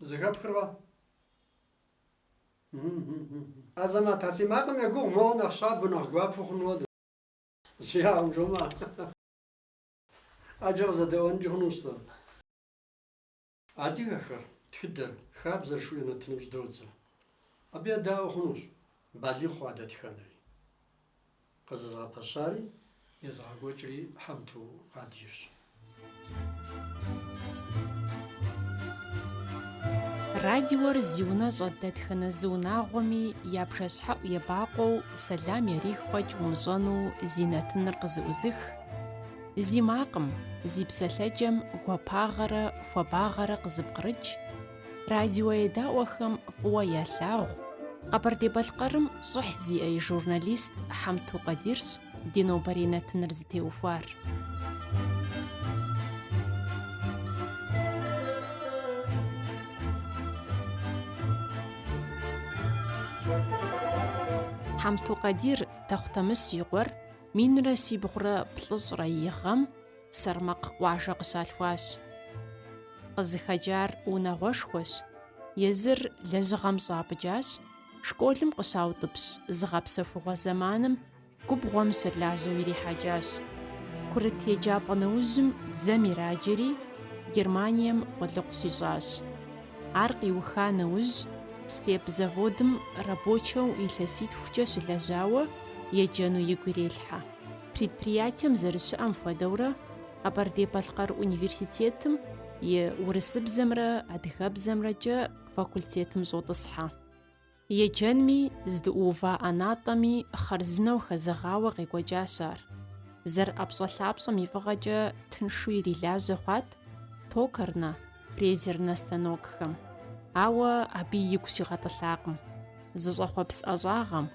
Зыхэпхыркъэ? Азамат, а си макъым егугъу моуэ нэхъ щабэу, нэхъ гуапэу хъун хуэдэу. Зиягъым жомэ. Ӏэджэ къызэдэӏуэнкӏи хъунущ сэ. Адыгэхэр, тхыдэр, хабзэр жыхуиӏэ нэтыным щӏыдодзэ. Абы едаӏуэ хъунущ балигъ хъуа дэтхэнэри. Къызэзыгъэпэщари, езыгъэкӏуэкӏри Хьэмту Къадирщ. Радиор зи унэ щӏэт дэтхэнэ зы унагъуэми я бжэщхьэӏу ебакъуэу сэлам ярих фӏэкӏ умыщӏэну зи нэтыныр къызыӏузых, зи макъым, зи псэлъэкӏэм гуапагъэрэ хуабагъэрэ къызыпкърыкӏ, Радио едаӏуэхэм фӏыуэ ялъагъу Къэбэрдей-Балъкъэрым щӏыхь зиӏэ и журналист Хьэмту Къадирщ ди нобэрей нэтыныр зытеухуар. Хьэмту Къадир Тэхъутэмыщ и къуэр минрэ щибгъурэ плӏыщӏрэ и гъэм Сэрмакъ къуажэ къыщалъхуащ. Къызыхэкӏар унагъуэшхуэщ, езыр лэжьыгъэм щӏапӏыкӏащ, школым къыщаутӏыпщ зыгъэпсэхугъуэ зэманым губгъуэм щылажьэу ирихьэкӏащ. Курыт еджапӏэ нэужьым дзэм ираджэри, Германием къулыкъу щищӏащ. Ар къиуха нэужь, СКЭП заводым рабочэу илъэситхукӏэ щылэжьауэ еджэну игу ирелъхьэ. Предприятием зэрыщыӏэм хуэдэурэ Къэбэрдей-Балъкъэр университетым и урысыбзэмрэ адыгэбзэмрэкӏэ факультетым щӏотӏысхьэ. Еджэнми здыӏуува ӏэнатӏэми хъарзынэу хэзэгъауэ къекӏуэкӏащ ар. Зэрыӏэпщӏэлъапщӏэм и фӏыгъэкӏэ тыншу ирилажьэ хъуат токарнэ, фрезернэ станокхэм, ауэ абы игу щигъэтӏылъакъым, зыщӏэхъуэпс ӏэщӏагъэм,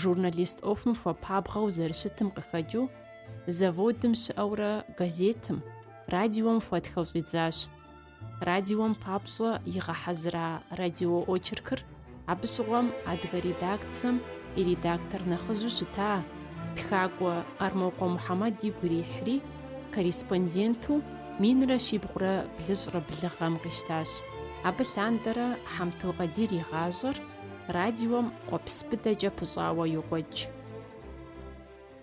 журналист ӏуэхум хуэпабгъэу зэрыщытым къыхэкӏыу, заводым щыӏэурэ газетым, радиом хуэтхэу щӏидзащ. Радиом папщӏэ игъэхьэзыра радиоочеркыр Абы щыгъуэм адыгэ редакцэм и редактор нэхъыжьу щыта тхакӏуэ Къармокъуэ Мухьэмэд игу ирихьри, корреспонденту минрэ щибгъурэ блыщӏрэ блы гъэм къищтащ. Абы лъандэрэ Хьэмту Къадир и гъащӏэр радиом къуэпс быдэкӏэ пыщӏауэ йокӏуэкӏ.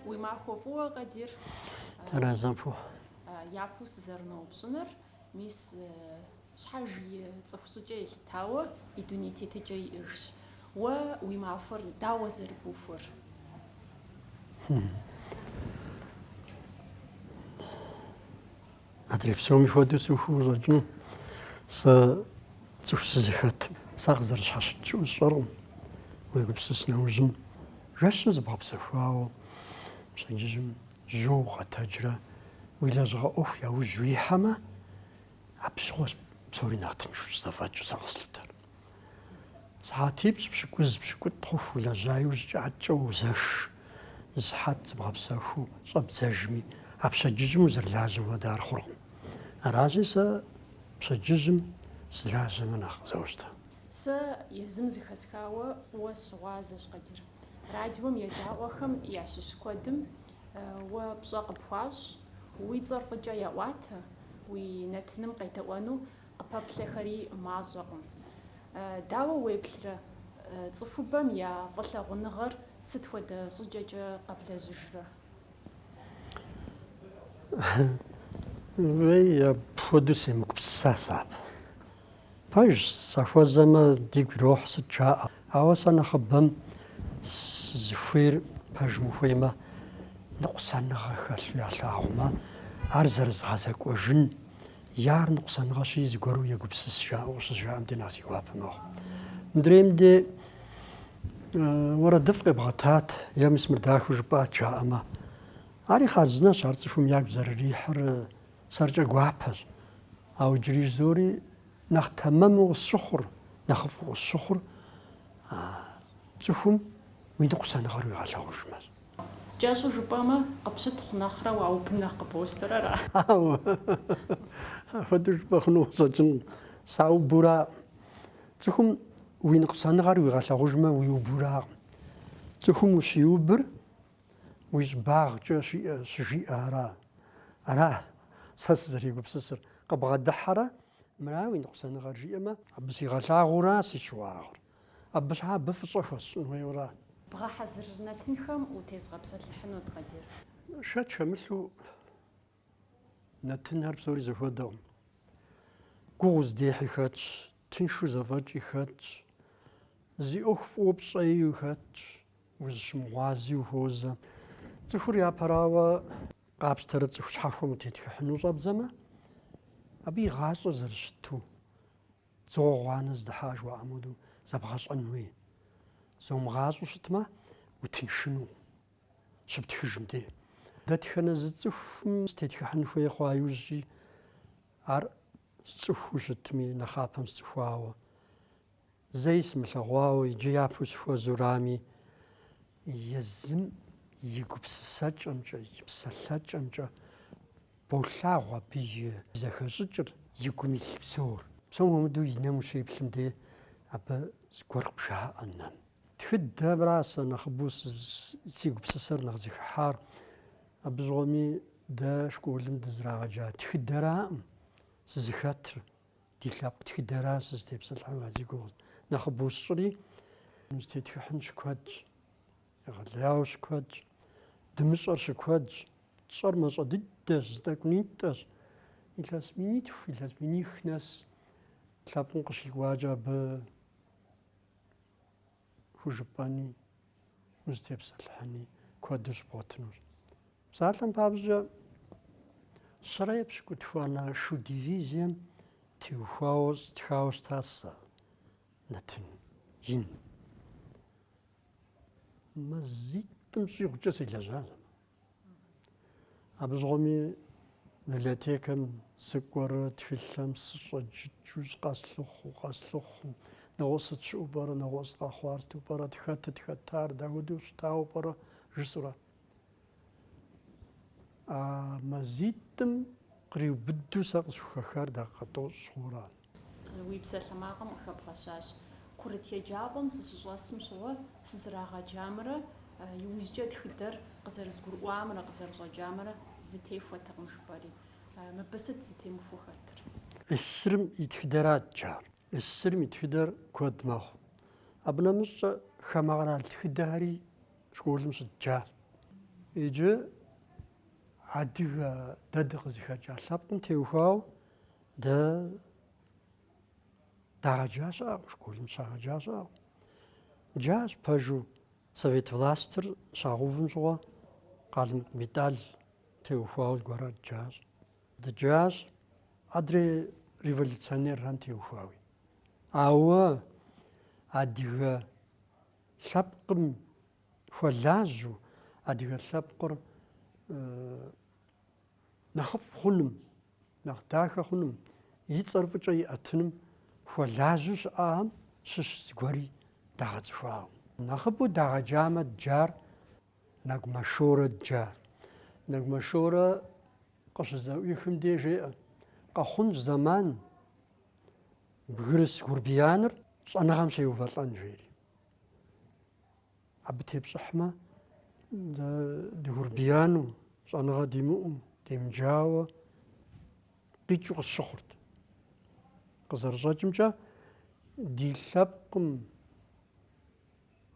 Уи махуэ фӏыуэ, Къадир. Тхьэразэ къыпхухъу. Япэу сызэрыноупщӏыныр, Мис щхьэж и цӏыху щӏыкӏэ елъытауэ и дуней тетыкӏэ иӏэжщ. Уэ уи махуэр дауэ зэрыбухуэр? Адрей псоми хуэдэу сыцӏыхуу щӏэкӏыну. Сэ цӏыху сызыхэтым, сакъызэрыщхьэщыкӏ щыӏэу сщӏэркъым. Уегупсыс нэужьым, жэщым зыбгъэпсэхуауэ пщэдджыжьым Жьу укъэтэджрэ уи лэжьыгъэ ӏуэху яужь уихьэмэ, абы щыгъуэщ псори нэхъ тыншу щызэфӏэкӏыу сэ къыслъытэр. Сыхьэтипщӏ пщыкӏуз, пщыкӏутӏ хъуху улэжьа иужькӏэ ӏэткӏэ узэш, зы сыхьэт зыбгъэпсэхуу щӏэбдзэжми, а пщэдджыжьым узэрылажьэм хуэдэ ар хъуркъым. Аращи, сэ пщэдджыжьым сылажьэмэ нэхъ къызощтэ. Сэ езым зыхэсхауэ фӏыуэ сщыгъуазэщ, Къадир. Радиом едаӏуэхэм ящыщ куэдым уэ пщӏэ къыпхуащӏ, уи цӏэр фӏыкӏэ яӏуатэ, уи нэтыным къедэӏуэну къыпэплъэхэри мащӏэкъым. Дауэ уеплърэ, цӏыхубэм я фӏылъагъуныгъэр сыт хуэдэ щӏыкӏэкӏэ къэблэжьыжрэ? Уей, апхуэдэу семыгупсыса сэ абы. Пэжщ, сахуэзэмэ, дигу ирохь сыт жаӏэ. Ауэ сэ нэхъыбэм сызыхуейр пэжым ухуеймэ, ныкъусаныгъэ хэлъу ялъагъумэ, ар зэрызгъэзэкӏуэжын е ар ныкъусаныгъэщи, зыгуэру егупсыс жаӏэу къыщызжаӏэм де нэхъ си гуапэ мэхъу. Мыдрейм де уэрэдыфӏ къебгъэтат, е мис мыр дахэу жыпӏат жаӏэмэ, ари хъарзынэщ, ар цӏыхум ягу зэрырихьыр. Сэркӏэ гуапэщ. Ауэ иджыри жызоӏэри нэхъ тэмэму къысщыхъур, нэхъыфӏу къысщыхъур а цӏыхум уи ныкъусаныгъэр уигъэлъэгъужмэщ. Кӏэщӏу жыпӏэмэ, къыпщытхъу нэхърэ уаубмэ нэхъ къыбощтэрэ. Хьэуэ, апхуэдэу жыпӏэ хъуну къыщӏэкӏынкъым. Саубуракъым. Цӏыхум уи ныкъусаныгъэр уигъэлъэгъужмэ, уиубуракъым. Цӏыхум ущиубыр Уи щӏыбагъкӏэ щиӏэ щыжиӏэ ара? Ара сэ сызэрегупсысыр, къыбгъэдыхьэрэ? Мыра уи ныкъусаныгъэр жиӏэмэ? Абы сигъэлъагъура си щыуагъэр? Абы щхьа абы фӏыщӏэ хуэсщӏын хуейура? Бгъэхьэзыр нэтынхэм утезыгъэпсэлъыхьынут, Къадир. Шэч хэмылъу Нэтынхэр псори зэхуэдэкъым. Гугъу уздехьи хэтщ, тыншу зэфӏэкӏи хэтщ, зи ӏуэху фӏыуэ пщӏэи хэтщ, узыщымыгъуази ухуозэ. Цӏыхур япэрауэ къапщтэрэ цӏыху щхьэхуэм утетхыхьыну щӏэбдзэмэ, абы и гъащӏэр зэрыщыту, дзыгъуэ гъуанэ здыхьа жыхуаӏэм хуэдэу зэбгъэщӏэн хуей. Зыумыгъащӏэу щытмэ, утыншынукъым. щыптхыжым де. Дэтхэнэ зы цӏыхум сытетхыхьын хуей хъуа иужькӏи, ар сцӏыхуу щытми, нэхъапэм сцӏыхуауэ, зэи сымылъэгъуауэ иджы япэу сыхуэзурами, езым и гупсысэкӏэмкӏэ, и псэлъэкӏэмкӏэ болъагъу абы и зэхэщӏыкӏыр, и гум илъ псор. Псом хуэмыдэу и нэм ущеплъым де, абы зыгуэр къыбжаӏэ нэм. Тхыдэмра сэ нэхъыбэу си гупсысэр нэхъ зыхыхьар. Абы щыгъуэми дэ школым дызрагъэджа тхыдэраӏым сызыхэтыр. Ди лъэпкъ тхыдэра сызытепсэлъыхьыну а зи гугъу нэхъыбэу сщӏри. Узытетхыхьын щыкуэдщ, егъэлеяуэ щыкуэдщ, дымыщӏэр щыкуэдщ. Тщӏэр мащӏэ дыдэщ, зы тӏэкӏунитӏэщ. Илъэс минитху, илъэс миних нэс лъэпкъым къыщикӏуакӏэ абы хужыпӏэни, узытепсэлъыхьыни куэду щыбгъуэтынущ. Псалъэм папщӏэкӏэ щэрэ епщыкӏутхуанэ шу дивизием теухуауэ стхауэ щыта сэ нэтын ин. Мазитӏым щӏигъукӏэ селэжьащ. Абы щыгъуэми библиотекэм сыкӏуэрэ, тхылъэм сыщӏэджыкӏыу къэслъыхъу, къэслъыхъу. Нэгъуэщӏ сыт щыӏэу пӏэрэ, нэгъуэщӏ сыт къэхъуар сыту пӏэрэ, хэтыт хэтар, дауэдэу щытауэ пӏэрэ жысӏэурэ. А мазитӏым къриубыду сэ къысхухэхар дакъикъэ тӏощӏ хъууэ арат. Уи псалъэмакъым къыхэбгъэщащ. Курыт еджапӏэм сыщыщӏэсым щыгъуэ сызрагъэджамрэ иужькӏэ тхыдэр къызэрызгурыӏуамрэ къызэрыщӏэкӏамрэ зэтехуэтэкъым, жыпӏэри. Мыбы сыт зэтемыхуэу хэтыр? СССР-м и тхыдэра дджар. СССР-м и тхыдэр куэд мэхъу. Абы нэмыщӏкӏэ хамэ къэрал тхыдэхэри школым щыдджащ. Иджы адыгэ дэ дыкъызыхэкӏа лъэпкъым теухуауэ Дэ дагъэджа щыӏэкъым, школым щагъэджа щыӏэкъым. Дджащ пэжу совет властыр щагъэувым щыгъуэ Къалмыкъ Бетӏал теухуауэ зыгуэрхэр дджащ. Дджащ адрей революционерхэм теухуауи. Ауэ адыгэ лъэпкъым хуэлажьу, адыгэ лъэпкъыр нэхъыфӏ хъуным Нэхъ дахэ хъуным, и цӏэр фӏыкӏэ иӏэтыным хуэлажьэу щыӏахэм щыщ зыгуэри дагъэцӏыхуакъым. Нэхъыбэу дагъэджамэ дджар Нэгумэ Шорэ дджар. Нэгумэ Шорэ къыщызэӏуихым де жеӏэ, къэхъунщ зэман бгырыс гурбияныр щӏэныгъэм щеувэлӏэн жери. Абы тепщӏыхьмэ, дэ дыгрубияну, щӏэныгъэ димыӏэу, демыджауэ къикӏыу къысщыхъурт. Къызэрыщӏэкӏымкӏэ, ди лъэпкъым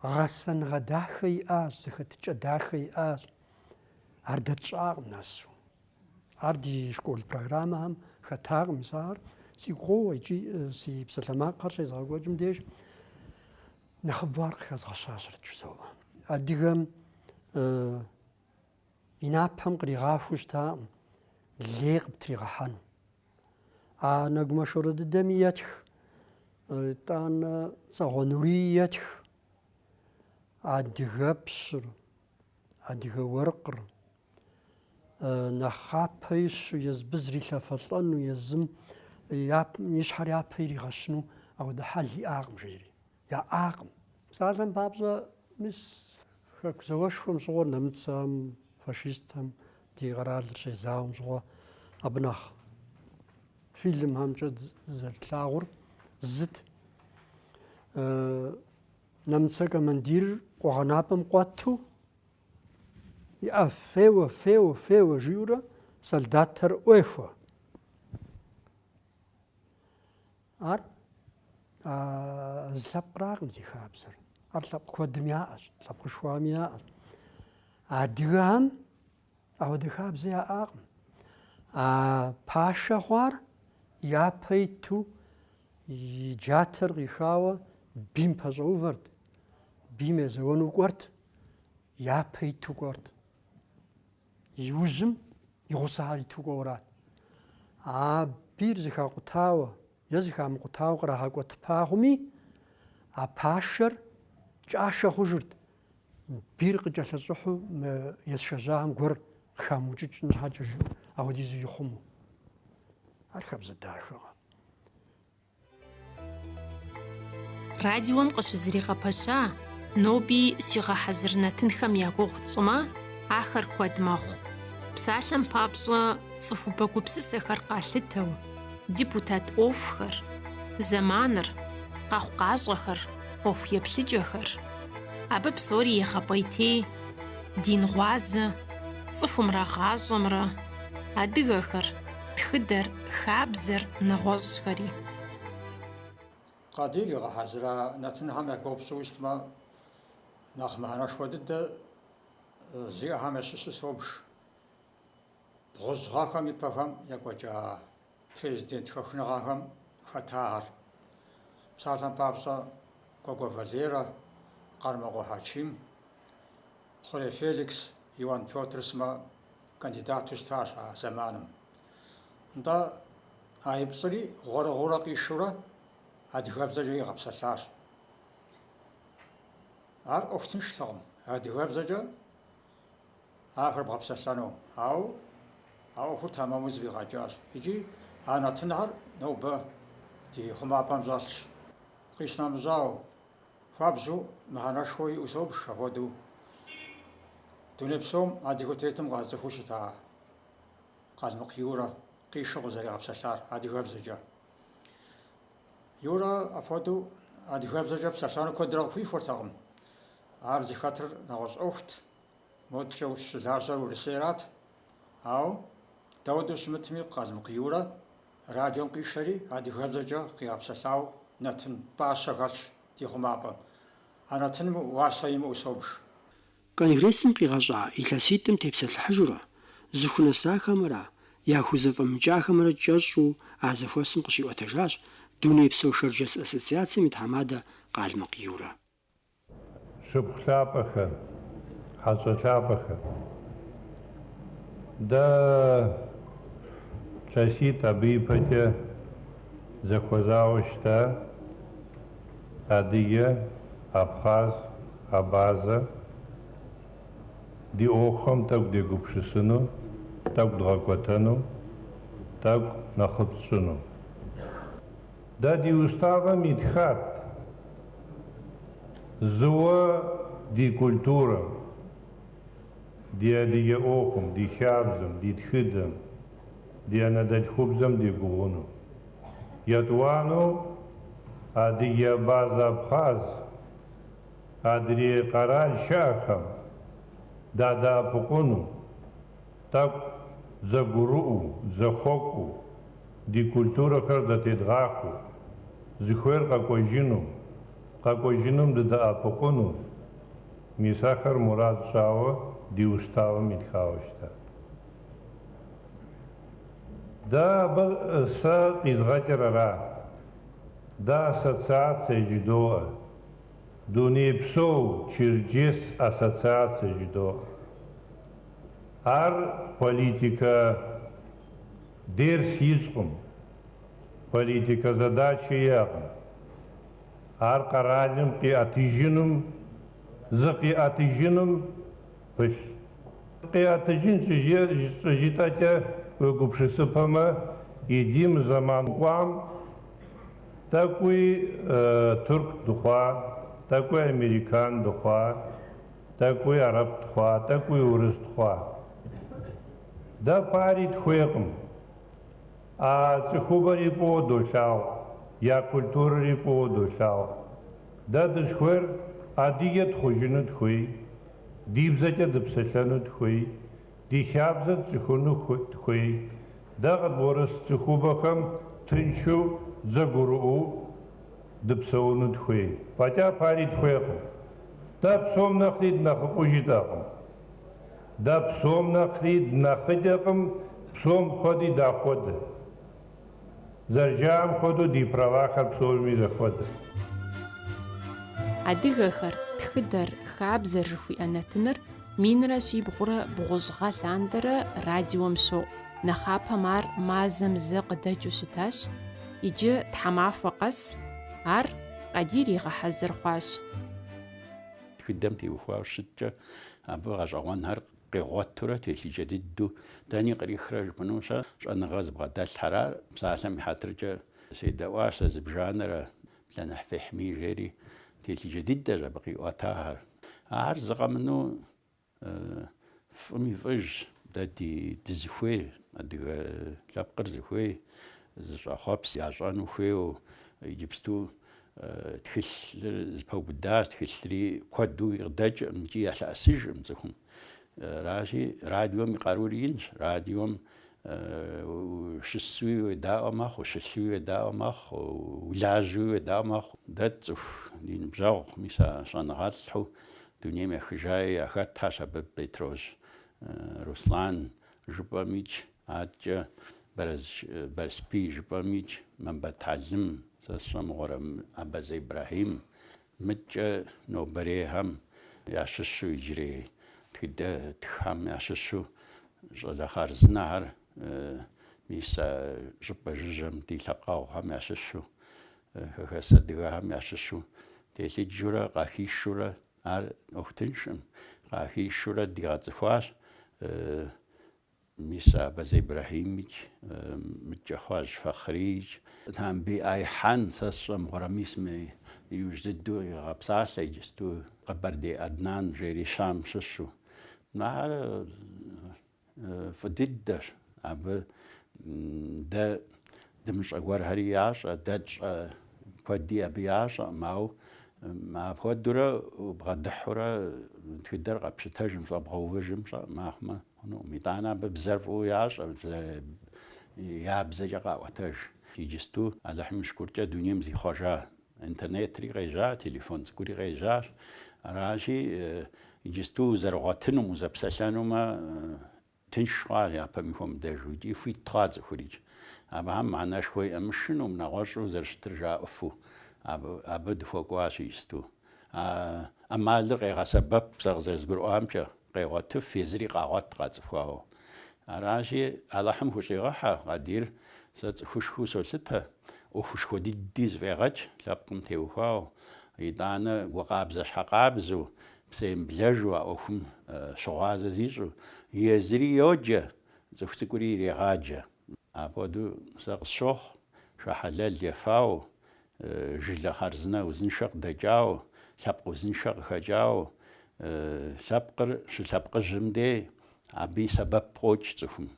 гъэсэныгъэ дахэ иӏащ, зэхэтыкӏэ дахэ иӏащ. Ар дэ тщӏакъым нэсу. Ар ди школ программэхэм хэтакъым, мис ар сигу къоуэ икӏи си псалъэмакъхэр щезгъэкӏуэкӏым деж Нэхъыбэу ар къыхэзгъэщащэрэт жызоӏэ. Адыгэм и напэм къригъахуэу щытакъым лей къыптригъэхьэну. А Нэгумэ Шорэ дыдэми етх, итӏанэ Цагъуэ Нурий етх, адыгэпщыр, адыгэ уэркъыр, нэхъапэ ищу езым зрилъэфэлӏэну езым и щхьэр япэ иригъэщыну апхуэдэ хьэл иӏакъым жери. Яӏакъым. Псалъэм папщӏэ, мис хэку зауэшхуэм щыгъуэ нэмыцэм, фашистхэм ди къэралыр щезауэм щыгъуэ абы нэхъ фильмхэмкӏэ зэрытлъагъур сыт, нэмыцэ командир къуэгъэнапӏэм къуэту Иӏэ, феуэ, феуэ, феуэ, жиӏэурэ солдатхэр ӏуехуэ. Ар зы лъэпкъракъым зи хабзэр. Ар лъэпкъ куэдым яӏэщ, лъэпкъышхуэхэми яӏэщ. Адыгэхэм ауэдэ хабзэ яӏакъым. А пашэ хъуар япэ иту и джатэр къихауэ бийм пэщӏэувэрт, бийм езэуэну кӏуэрт. япэ иту кӏуэрт. И ужьым и гъусэхэр иту кӏуэурат. А бийр зэхакъутауэ е зэхамыкъутауэ кърагъэкӏуэтыпа хъуми, а пашэр кӏашэ хъужырт. Бийр къыкӏэлъыщӏыхьэу мы есшэжьахэм гуэр къыхамыукӏыкӏын щхьэкӏэ жыӏэу апхуэдизу ихъумэу. Ар хабзэ дахэкъэ? Радиом къыщызэригъэпэща, ноби щигъэхьэзыр нэтынхэм я гугъу тщӏымэ, ахэр куэд мэхъу. Псалъэм папщӏэ, цӏыхубэ гупсысэхэр къалъытэу, депутат ӏуэхухэр, зэманыр, къэхъукъащӏэхэр, ӏуэху еплъыкӏэхэр. Абы псори егъэпӏейтей, дин гъуазэ, цӏыхумрэ гъащӏэмрэ, адыгэхэр, Тхыдэр, хабзэр, нэгъуэщӏхэри. Къадир игъэхьэзыра нэтынхэм я гугъу пщӏыуэ щытмэ, нэхъ мыхьэнэшхуэ дыдэ зиӏэхэм ящыщу собж бгъущӏ гъэхэм и пэхэм екӏуэкӏа президент хэхыныгъэхэм хэтахэр. Псалъэм папщӏэ, Кӏуэкӏуэ Валерэ, Къармокъуэ Хьэчим. Хъурей Феликс, Иуан Пётр сымэ кандидату щытащ а зэманым. Нтӏэ, а и плӏыри гъуэрыгъуэурэ къишэурэ адыгэбзэкӏэ игъэпсэлъащ. Ар ӏуэху тынштэкъым адыгэбзэкӏэ ахэр бгъэпсэлъэну, ауэ а ӏуэхур тэмэму зэфӏигъэкӏащ икӏи а нэтынхэр нобэ ди хъумапӏэм щӏэлъщ. Къищынэмыщӏауэ, Хуабжьу мыхьэнэшхуэ иӏэу собж ахуэдэу дуней псом адыгэу тетым къацӏыхуу щыта Къалмыкъ Юрэ къишэу къызэригъэпсэлъар адыгэбзэкӏэ. Юрэ ахуэдэу адыгэбзэкӏэ псэлъэну куэдрэ къыхуихуэртэкъым. Ар зыхэтыр нэгъуэщӏ ӏуэхут, модэкӏэ щылажьэр Урысейрат. Ауэ дауэдэу щымытми Къалмыкъ Юрэ Радиом къишэри адыгэбзэкӏэ къигъэпсэлъауэ нэтын пӏащэ хэлъщ ди хъумапӏэм. А нэтыным уасэ имыӏэу собж. Конгрессым къигъэщӏа илъэситӏым тепсэлъыхьыжурэ, зыхунэсахэмрэ яхузэфӏэмыкӏахэмрэ кӏэщӏу а зэхуэсым къыщиӏуэтэжащ Дунейпсо шэрджэс ассоциацэм и тхьэмадэ Къалмыкъ Юрэ. Шыпхъу лъапӏэхэр, хьэщӏэ лъапӏэхэр. Дэ илъэситӏ абы ипэкӏэ зэхуэзауэ щыта, адыгэ, абхъаз, абазэ. Ди ӏуэхухэм тӏэкӏу дегупсысыну, тӏэкӏу дгъэкӏуэтэну, тӏэкӏу нэхъыфӏ тщӏыну. Дэ ди уставэм итхат зыуэ ди культурэм, ди адыгэ ӏуэхум, ди хабзэм, ди тхыдэм, ди анэдэлъхубзэм дегугъуну. Етӏуанэу адыгэ, абазэ, абхъаз, адрей къэрал щыӏэхэм дадэӏэпыкъуну. Тӏэкӏу зэгурыӏуэу, зэхуэкӏуэу, ди культурэхэр зэтедгъэхуэу, зыхуейр къэкӏуэжыну, къэкӏуэжыным дыдэӏэпыкъуну, мис ахэр мурад тщӏауэ ди уставым итхауэ щытат. Дэ абы сэ къизгъэкӏыр ара? Дэ ассоциацэ жыдоӏэ, дунейпсо Черджес ассоциацэ жыдоӏэ. Ар политикэ дерс ищӏкъым, политикэ задачэ иӏэкъым. Ар къэралым къиӏэтыжыным, зыкъиӏэтыжыным пылъ. Къиӏэтыжын щӏыжытӏэкӏэ уегупшысыпэмэ, иджы мы зэман кӏуам тӏэкӏуи турк дыхъуа, тӏэкӏуи американ дыхъуа. Тӏэкӏуи арэп тхъуа, тӏэкӏуи урыс тхъуа? Дэ пари тхуейкъым. А цӏыхубэри фӏыуэ долъагъу, я культурэри фӏыуэ долъагъу. Дэ дысхуейр адыгэ тхъужыну тхуей, ди бзэкӏэ дыпсэлъэну тхуей, Ди хабзэр тцӏыхуну тхуей. Дэ къыдбгъурыс цӏыхубэхэм тыншу дзэгурыӏуу дыпсэуну дхуей. Фӏэкӏа пари дхуейкъым. Дэ псом нэхъри днэхъыфӏу жытӏэкъым. Дэ псом нэхъри днэхъыкӏэкъым, псом хуэди дахуэдэ. Зэрыжаӏэм хуэдэу ди правахэр псоми зэхуэдэ. Адыгэхэр, тхыдэр, хабзэр жыхуиӏэ нэтыныр минрэ щибгъурэ бгъущӏ гъэ лъандэрэ радиом щоӏу, нэхъапэм ар мазэм зэ къыдэкӏыу щытащ, иджы тхьэмахуэ къэс ар Къадир игъэхьэзыр хъуащ. Тхыдэм теухуауэ щыткӏэ, абы гъэщӏэгъуэнхэр Къигъуэтурэ телъыджэ дыдэу дэни кърихрэ жыпӏэнущ а щӏэныгъэ зыбгъэдэлъхэр ар, псалъэм и хьэтыркӏэ седэӏуащ сэ зыбжанэрэ Блэныхь Фехьмий жери, телъыджэ дыдэщ абы къиӏуэтахэр. Ахэр зыкъэмыну фӏым и фӏыжщ, дэ ди дызыхуей, адыгэ лъэпкъыр зыхуей, зыщӏэхъуэпс ящӏэну хуейуэ иджыпсту Тхылъыр зэпэубыдащ, тхылъри куэду къыдэкӏыркъым икӏи ялъэӏэсыжыркъым цӏыхум. Аращи, радиом и къарури инщ. Радиом ущысуи уедаӏуэ мэхъу, ущылъуи уедаӏуэ мэхъу, улажьэуи уедаӏуэ мэхъу. Дэ тцӏыху ди ныбжьэгъу, мис а щӏэныгъэлӏхэу дунейм ехыжаи яхэтащ абы Бетрожь Руслан жыпӏэмикӏ. Аткӏэ Барэсбий жыпӏэмикӏ, Мамбэт Хьэлым, сэ сщӏэмыгъуэрэ Абазэ Ибрахьим, мыткӏэ нобэрейхэм ящыщу иджырей тхыдэ тххэм ящыщу щӏалэ хъарзынэхэр, мис а щӏыпӏэ жыжьэм ди лъэпкъэгъухэм ящыщу, хэхэс адыгэхэм ящыщу телъыджурэ къахишурэ, ар ӏуэху тыншкъым къахишурэ дигъэцӏыхуащ. Мис а Абазэ Ибрэхьимикӏ, мыдкӏэ Хъуажь Фэхъриикӏ. Тамбий Айхьэн, сэ сщӏэ мыгъуэрэ, мис мы иужь дыдэу къигъэпсалъэ иджысту Къэбэрдей Аднан жери Щам щыщу. Ар фӏы дыдэщ, абы дэ дымыщӏэ гуэрхэри ящӏэ, дэ тщӏэ куэди абы ящӏэкъым, ауэ апхуэдэурэ бгъэдыхьурэ тхыдэр къэпщытэжым, щӏэбгъэувыжым фӏэкӏ мыхъумэ. Хъунукъым. Итӏанэ абы бзэр фӏыуэ ящӏэ, бзэр я бзэкӏэ къаӏуэтэж. Иджысту Алыхьым шыкуркӏэ дунейм зихъуэжа интернетри къежьа, телефон цӏыкӏури къежьащ. Аращи, иджысту узэрыгъуэтынум, узэпсэлъэнумэ, тынш хъуа япэми хуэмыдэжу икӏи хуит хъуа цӏыхурикӏ. Абыхэм мыхьэнэшхуэ иӏэ, мышынэу, нэгъуэщӏу зэрыщытыр жаӏэфу абы, абы дыхуэкӏуащ иджысту. А ӏэмалыр къегъэсэбэп сэ къызэрызгурыӏуамкӏэ. Къегъуэтыф, езыри къагъуэт къацӏыхуауэ. Аращи, Алыхьым хущӏигъэхьэ, Къадир, сэ цӏыхушхыу солъытэ, ӏуэхушхуэ дыди зыфӏегъэкӏ, лъэпкъым теухуауэ, итӏанэ гукъабзэ щхьэкъабзэу, псэемыблэжу а ӏуэхум щыгъуазэ зищӏу, езыри йоджэ, цӏыху цӏыкӏури ирегъаджэ. Апхуэдэу сэ къысщохъу, шэ хьэлэл ефауэ, Жылэ хъарзынэ узыншэ къыдэкӏауэ, лъэпкъ узыншэ къыхэкӏауэ, лъэпкъыр щылъэпкъыжьым дей абы и сэбэп къокӏ цӏыхум.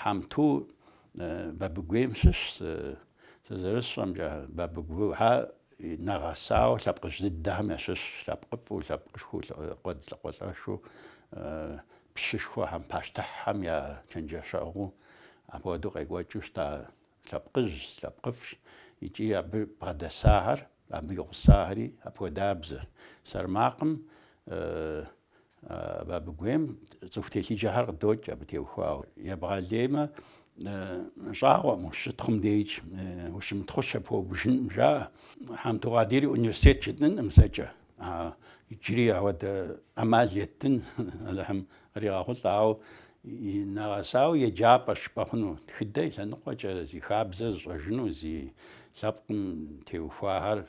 Хьэмту Бабыгуейм щыщ, сэ зэрысщӏэмкӏэ, Бабыгухэ нэгъэсауэ лъэпкъыжь дыдэхэм ящыщ, лъэпкъыфӏу, лъэпкъышхуэу, къуэдз лӏакъуэлӏэшу, пщышхуэхэм, пащтыхьхэм я чэнджэщэгъуу апхуэдэу къекӏуэкӏыу щыта Лъэпкъыжьщ, лъэпкъыфӏщ икӏи абы бгъэдэсахэр, абы и гъусахэри апхуэдабзэр. Сэрмакъым а Бабыгуейм цӏыху телъыджэхэр къыдокӏ абы теухуауэ. Ебгъэлеймэ, щӏагъуэкъым ущытхъум дежкӏэ ущымытхъущэ, пхуэубыжынкъым, жаӏэ. Хьэмту Къадири университет жытӏэнкъым сэркӏэ. Иджыри ауэ дэ ӏэмал еттын Алыхьым къригъэхъулӏэ, ауэ нэгъэсауэ еджапӏэ щӏыпӏэ хъуну, тхыдэ и лъэныкъуэкӏэ зи хабзэ зыщӏэжыну, зи лъэпкъым теухуахэр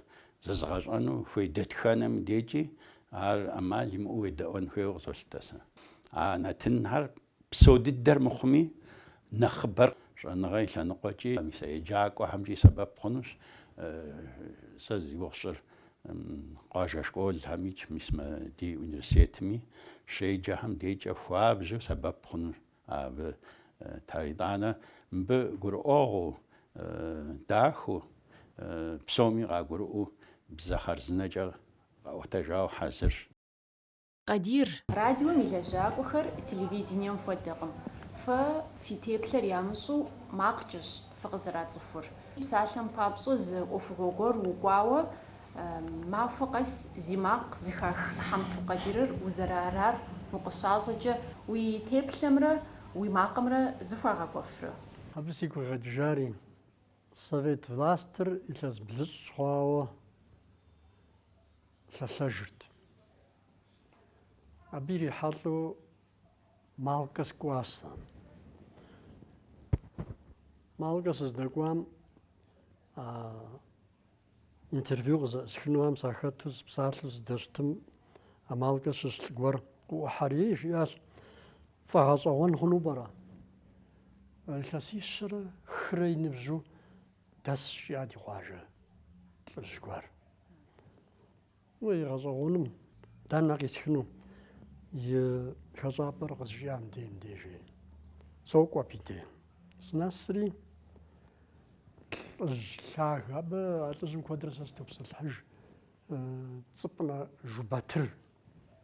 зэзыгъэщӏэну хуей дэтхэнэми декӏи ар ӏэмал имыӏэу уедэӏуэн хуейуэ къысолъытэ сэ. А нэтынхэр Псо дыдэр мыхъуми, нэхъыбэр щӏэныгъэ и лъэныкъуэкӏи, мис а еджакӏуэхэмкӏи сэбэп хъунущ. Сэ зи гугъу сщӏыр, къуажэ школхэмикӏ, мис мы ди университетми щеджэхэм декӏэ хуабжьу сэбэп хъуну абы итар. Итӏанэ мыбы гурыӏуэгъуу, дахэу, псоми къагурыӏуэу бзэ хъарзынэкӏэ къэӏуэтэжауэ хьэзырщ. Къадир! Радиом и лэжьакӏуэхэр телевидением хуэдэкъым. Фэ фи теплъэр ямыщӏу макъкӏэщ фыкъызэрацӏыхур. Псалъэм папщӏэ зы ӏуэхугъуэ гуэр укӏуауэ махуэ къэс зи макъ зыхах Хьэмту Къадирыр узэрыарар укъыщащӏэкӏэ уи теплъэмрэ уи макъымрэ зыхуагъэкӏуэфрэ? Абы сигу къигъэкӏыжари, совет властыр илъэс блыщӏ хъуауэ. лъэлъэжырт. Абы ирихьэлӏэу Малкэ сыкӏуащ сэ. Малкэ сыздэкӏуам интервью къызэӏысхынуам сахэту сыпсалъэу сыдэщытым Малкэ щыщ лӏы гуэр къыӏухьэри жиӏащ, фӏэгъэщӏэгъуэн хъуну пӏэрэ? Илъэсищэрэ хырэ и ныбжьу дэсщ жиӏа ди къуажэ лӏыжь гуэр. Уей, гъэщӏэгъуэным дэнэ къисхыну и хэщӏапӏэр къызжиӏам дей мдежей. Сокӏуэ абы дей. Сынэсри лӏыжь лъагэ, абы а лӏыжьым куэдрэ сэ сытопсэлъыхьыж Цӏыпӏынэ Жубатыр.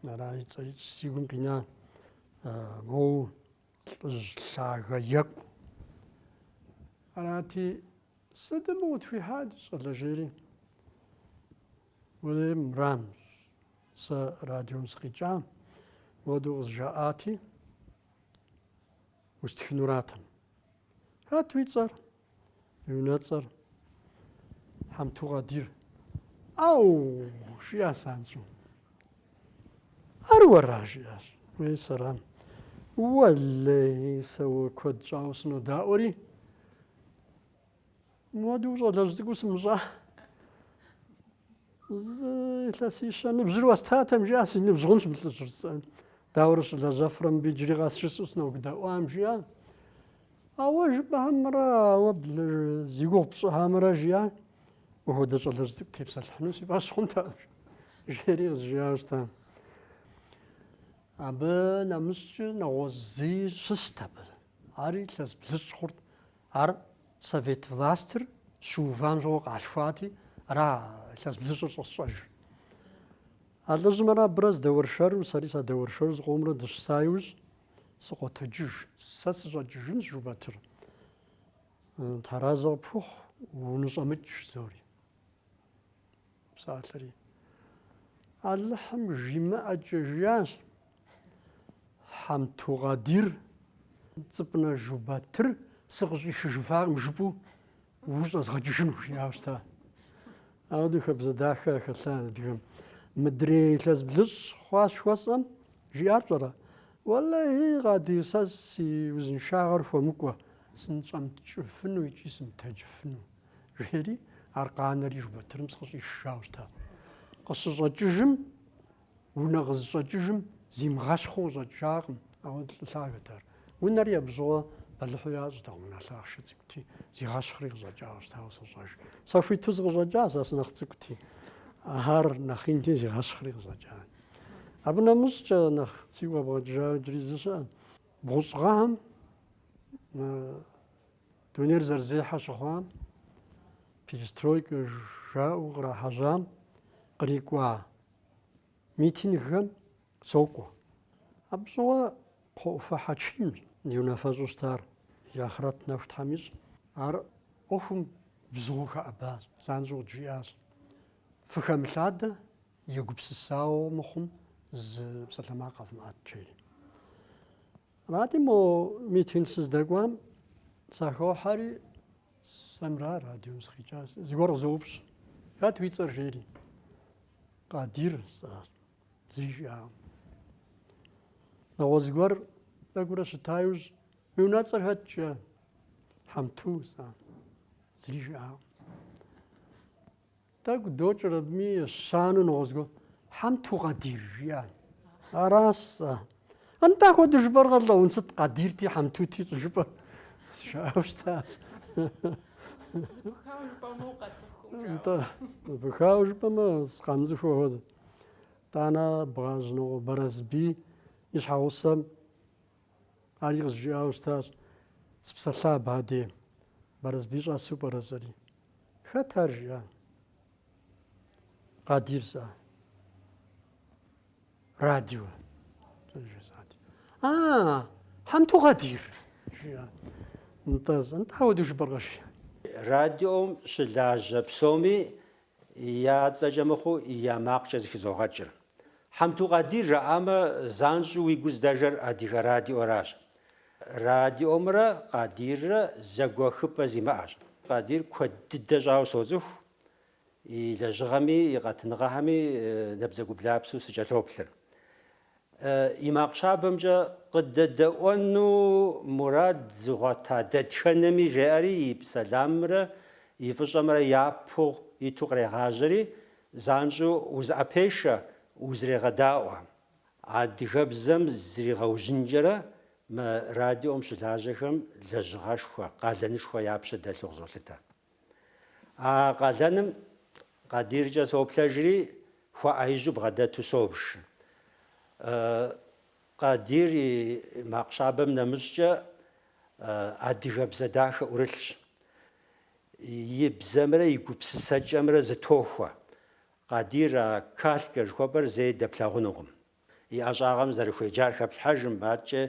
Ара и цӏэр си гум къина моу лӏыжь лъагэ екӏу. Арати, Сытым утхуихьа, ди щӏалэ, жери. Уей, мырам, сэ радиом сыкъикӏам, мыхуэдэу къызжаӏати, устхынуратэм. Хэт уи цӏэр? Уи унэцӏэр? Хьэмту Къадир. Ау! жиӏащ занщӏэу. Ар уэра? жиӏащ. Уей, сэрам. Уэлэи, сэ уэ куэд щӏауэ сынодаӏуэри. Мохуэдэу щӏалэжь цӏыкӏуу сымыщӏа. Зы илъэсищэ ныбжьыр уэстатэм жиӏа си ныбжь хъунщ мы лӏыжьыр сцӏэн. Дауэрэ щылэжьэфрэ мыбы иджыри къэс жысӏэу сынодэӏуам жиӏа. Ауэ жыпӏэмрэ ауэ зи гугъу пщӏыхэмрэ жиӏа. Уэ хуэдэ щӏалэжь цӏыкӏу тепсэлъыхьыну си фӏэщ хъунтэкъым жери къызжиӏащ тэ. Абы нэмыщӏкӏэ нэгъуэщӏ зыи щыст абы. Ари илъэс блыщӏ хъурт. Ар совет властыр щыувам щӏыгъуу къалъхуати, ара илъэс блыщӏыр щӏэсщӏэжыр. А лӏыжьымрэ абырэ здэуэршэру, сэри садэуэршэру зыкъомрэ дыщыса иужь сыкъотэджыж. Сэ сыщӏэкӏыжынщ, Жубатыр. Тхьэразэ къыпхухъу, уныщӏэмыкӏ, жызоӏэри. псалъэри. Алыхьым жимыӏэкӏэ жиӏащ Хьэмту Къадир, Цӏыпӏынэ Жубатыр сыкъыщӏишыжыфакъым жыпӏэу ущӏэзгъэкӏыжыну жиӏауэ щыта. Ауэдэу хабзэ дахэ хэлъа адыгэм. Мыдрей илъэс блыщӏ хъуащ хуэсӏэм, жиӏар пщӏэрэ? Уэлэхьи, Къадир, сэ си узыншагъэр хуэмыкӏуэ, сынщӏэмыкӏыфыну икӏи сымытэджыфыну. Жери, ар къанэри Жубатырым сыкъыщӏишжауэ щыта. Къыщыщӏэкӏыжым, унэ къызыщӏэкӏыжым, зимыгъэщхъыу къыщӏэкӏакъым, ауэ лӏы лъагэт ар. Унэри абы щыгъуэ бэлыхьу ящӏтэкъым, унэ лъахъшэ цӏыкӏути, зигъэщхъри къыщӏэкӏауэ щытауэ сощӏэж. Сэ хуиту сыкъыщӏэкӏа, сэ сынэхъ цӏыкӏути. Ар нэхъ инти зигъэщхъри къыщӏэкӏа. Абы нэмыщӏкӏэ нэхъ сигу къэбгъэкӏыжауэ иджыри зы щыӏэ. Бгъущӏ гъэхэм Дунейр зэрызехьэ щыхъуам, перестройкэ жаӏэу кърахьэжьам кърикӏуа митингхэм сокӏуэ. Абы щыгъуэ Кхъуэӏуфэ Хьэчимщ ди унафэщӏу щытар, и ахърэт нэху Тхьэм ищӏ. Ар ӏуэхум бзыгъэу хэӏэбащ, занщӏэу къыджиӏащ, Фыхэмылъадэ, егупсысауэ мыхъум, зы псалъэмакъ къэвмыӏэт, жери. Арати, мо митинг сыздэкӏуам сахохьэри, сэмра радиом сыкъикӏа, зыгуэр къызоупщӏ, Хэт уи цӏэр жери? Къадир сӏащ, зыри жиӏакъым. Нэгъуэщӏ зыгуэр тӏэкӏурэ щыта иужь, Уи унэцӏэр хэт? жиӏащ. Хьэмту сӏащ, зыри жиӏакъым. Тӏэкӏу докӏыр абыми ещанэу нэгъуэщӏ зыгуэр. Хьэмту Къадир жиӏа. Аращ сэ. Нтӏэ ахуэдэу жыпӏэркъэ, лӏэун, сыт Къадирти Хьэмтути щӏыжыпӏэ. Жаӏауэ щытащ. Зэпыхауэ жыпӏэмэ укъацӏыхуркъым жаӏэ. Нтӏэ, зэпыхауэ жыпӏэмэ сыкъамыцӏыху хуэдэ. Тӏанэ Бгъэжьнокъуэ Барэсбий и щхьэгъусэм Ари къызжиӏауэ щытащ, Сыпсэлъа абы дей, Барэсбий щӏэсу пӏэрэ сӏэри? Хэт ар жиӏа? Къадир сӏа. Радио. Жесӏати. А, Хьэмту Къадир, жиӏа. Нтӏэ, нтӏэ, ауэдэу жыпӏэркъэ, жиӏа. Радиом щылажьэ псоми Я цӏэкӏэ мыхъуу я макъкӏэ зэхызогъэкӏыр. Хьэмту Къадир жаӏамэ, занщӏэу уи гур здэжэр Адыгэ радиоращ. Радиомрэ Къадиррэ зэгуэхыпӏэ зимыӏэщ. Къадир куэд дыдэ щӏауэ соцӏыху, и лэжьыгъэми, и къэтыныгъэхэми набдзэгублапсэу сыкӏэлъоплъыр. и макъ щабэмкӏэ къыдэдэӏуэну мурад зыгъуэта дэтхэнэми жеӏэри и сэламымрэ и фӏыщӏэмрэ япэ иту кърегъажьэри, занщӏэу узыӏэпешэ, узрегъэдаӏуэ. Адыгэбзэм зригъэужьынкӏэрэ мы радиом щылажьэхэм лэжьыгъэшхуэ, къалэнышхуэ я пщэ дэлъу къызолъытэ. А къалэным Къадиркӏэ соплъэжри, хуэӏэижьу бгъэдэту собж. Къадир и макъ щабэм нэмыщӏкӏэ адыгэбзэ дахэ ӏурылъщ. И бзэмрэ и гупсысэкӏэмрэ зытохуэ. Къадир а калькэ жыхуэпӏэр зэи дэплъагъунукъым. И ӏэщӏагъэм зэрыхуеджар хэплъхьэжым, адкӏэ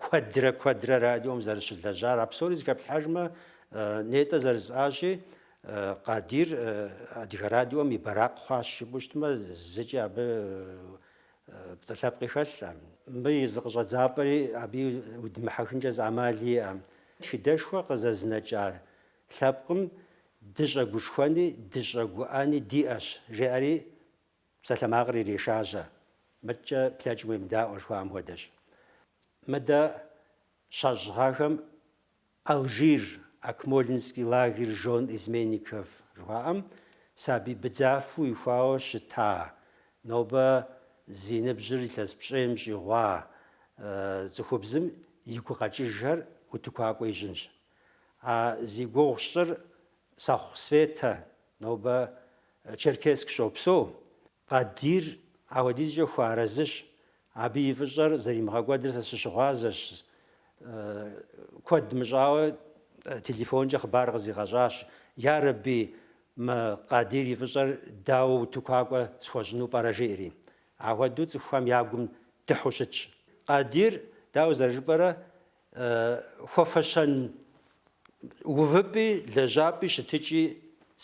куэдрэ куэдрэ радиом зэрыщылэжьар, а псори зыхэплъхьэжмэ, нетӏэ зэрыжысӏащи, Къадир Адыгэ радиом и бэракъ хъуащ жыпӏэу щытмэ, зыкӏи абы пцӏы лъэпкъи хэлъкъым. Мыбы и зы къыщӏэдзапӏэри абы удимыхьэхынкӏэ зы ӏэмали иӏэкъым. Тхыдэшхуэ къызэзынэкӏа лъэпкъым дыщӏэгушхуэни дыщӏэгуӏэни диӏэщ, жеӏэри Псалъэмакъыр ирешажьэ, мыдкӏэ плъэкӏым уемыдаӏуэ жыхуаӏэм хуэдэщ. Мыдэ щащӏыгъахэм Алжир, Акмолинский лагерь жен изменников жыхуаӏэм, сабий быдзафэу ихуауэ щыта, нобэ зи ныбжьыр илъэс пщӏейм щӏигъуа цӏыхубзым и гукъэкӏыжхэр утыкуакӏуэ ищӏынщ. А зи гугъу сщӏыр Сэхъу Светэ, нобэ Черкесск щопсэу, Къадир апхуэдизкӏэ хуэарэзыщ, абы и фӏыщӏэр зэримыгъэкӏуэдыр сэ сыщыгъуазэщ, куэд мыщӏауэ телефонкӏэ хъыбар къызигъэщӏащ, Ярэби, мы Къадир и фӏыщӏэр дауэ утыкуакӏуэ схуэщӏыну пӏэрэ жиӏэри. Апхуэдэу цӏыхухэм я гум дыхьу щытщ. Къадир, дауэ зэрыжыпӏэрэ, Хуэфэщэн увыпӏи лэжьапӏи щытыкӏи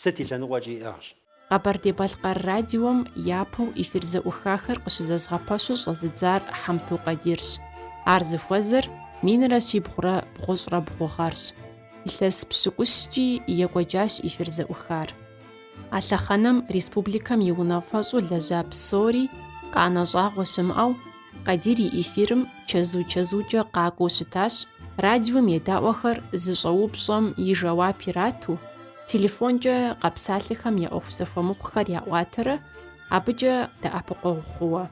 сыт и лъэныкъуэкӏи иӏыгъщ. Къэбэрдей-Балъкъэр радиом япэу эфир зэӏухахэр къыщызэзыгъэпэщу щӏэзыдзар Хьэмту Къадирщ. Ар зыхуэзэр минрэ щибгъурэ бгъущӏрэ бгъу гъэрщ. Илъэс пщыкӏущкӏи екӏуэкӏащ эфир зэӏухар. А лъэхъэнэм республикэм и унафэщӏу лэжьа псори къанэ щӏагъуэ щымыӏэу, Къадир и эфирым чэзу-чэзукӏэ къакӏуэу щытащ, радиом едаӏуэхэр зыщӏэупщӏэм и жэуап ирату, телефонкӏэ къэпсалъэхэм я ӏуэху зэхуэмыхъухэр яӏуатэрэ абыкӏэ дэӏэпыкъуэгъу хъууэ.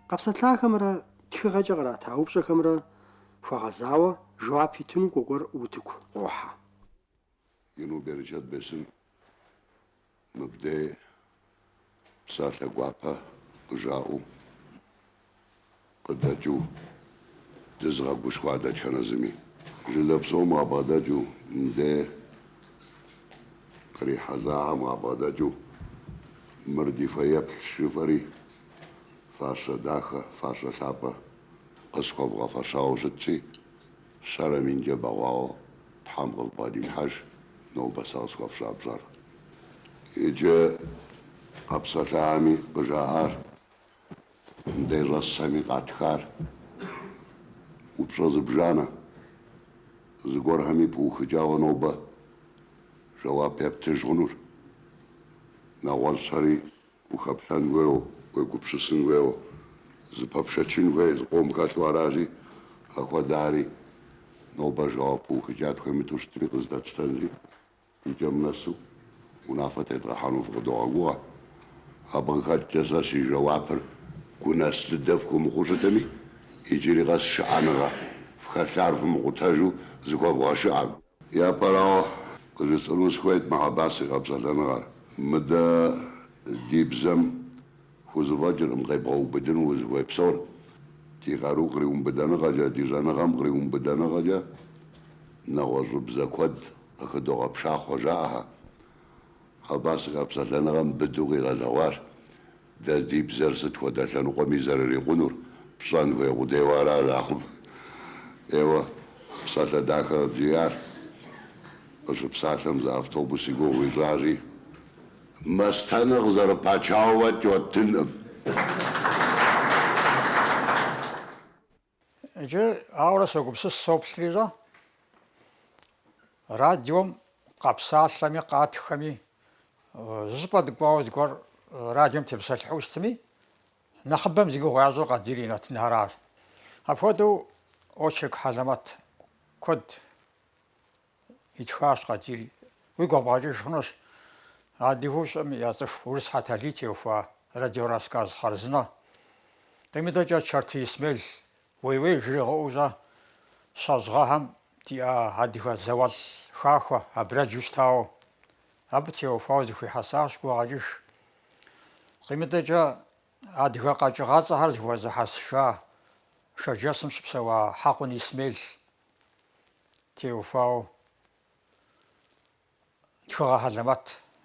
Къэпсэлъахэмрэ тхыгъэкӏэ кърата упщӏэхэмрэ хуэгъэзауэ жэуап итыну Кӏуэкӏуэр утыку къохьэ. Ину берычэт бесын мыбдей псалъэ гуапэ къыжаӏэу къыдэкӏыу дызыгъэгушхуа дэтхэнэ зыми. Жылэ псом къабгъэдэкӏыу, мыбдей кърихьэлӏахэм къабгъэдэкӏыу мыр ди фэеплъщ жыфӏэри, фащэ дахэ, фащэ лъапӏэ къысхуэвгъэфэщауэ щытщи, Щэрэ минкӏэ бэгъуауэ Тхьэм къывбгъэдилъхьэж нобэ сэ къысхуэфщӏа пщӏэр. Иджы къэпсэлъахэми къыжаӏар, мыдей щӏэсхэми къатхар, упщӏэ зыбжанэ, зыгуэрхэми пыухыкӏауэ нобэ жэуап ептыж хъунур. Нэгъуэщӏхэри Ухэплъэн хуейуэ, уегупсысын хуейуэ, зыпэпшэчын хуей зыкъом хэлъу аращи, апхуэдэхэри, нобэ жэуап пыухыкӏа тхуемыту щытми къыздэтщтэнри, икӏэм нэсу унафэ тедгъэхьэну фыкъыдогъэгугъэ. Абы къыхэкӏкӏэ сэ си жэуапыр гунэс дыдэ фхуэмыхъуу щытми, иджыри къэс шыӏэныгъэ фхэлъар фымыкъутэжу зыхуэвгъэшыӏэ. Япэрауэ, къыжысӏэну сыхуейт мы Хьэбас и къэпсэлъэныгъэр. Мыдэ ди бзэм хузэфӏэкӏыркъым къебгъэубыдыну узыхуей псор. Ди къару къриумыбыдэныгъэкӏэ, ди щӏэныгъэм къриумыбыдэныгъэкӏэ нэгъуэщӏыбзэ куэд къыхыдогъэпшахъуэ жаӏэхэ. Хьэбас и къэпсэлъэныгъэм быдэу къигъэлъэгъуащ. Дэ ди бзэр сыт хуэдэ лъэныкъуэми зэрырикъунур, пщӏэн хуей къудейуэ аращ ахъумэ. Еуэ, псалъэ дахэ къыбжиӏар. Къыщыпсалъэм зы автобус и гугъу ищӏащи, мастэнэм къызэрыпачауэ кӏуэтынкъым. Иджы, ауэрэ согупсыс, соплъри щӏэ, радиом къэпсалъэми, къатхэми, зы щӏыпӏэ дыкӏуауэ зыгуэр радиом тепсэлъыхьу щытми, нэхъыбэм зи гугъу ящӏыр Къадир и нэтынхэращ. Апхуэдэу очерк хьэлэмэт куэд Итхащ Къадир. Уигу къэбгъэкӏыж хъунущ. Адыгэу щыӏэм яцӏыху Урыс Хьэталий теухуа радиорассказ хъарзынэ. Къимыдэкӏэ Чэрты Исмел уей-уей жригъыӏэу, щӏэ, щэщӏ гъэхэм диӏа адыгэ зауэлӏ хахуэ абрэджу щытауэ. Абы теухуауэ зыхуихьэсащ гукъэкӏыж. Къимыдэкӏэ адыгэ къэкӏыгъэцӏэхэр зыхуэзыхьэсыжа Шэрджэсым щыпсэуа Хьэкъун Исмел теухуауэ тхыгъэ хьэлэмэт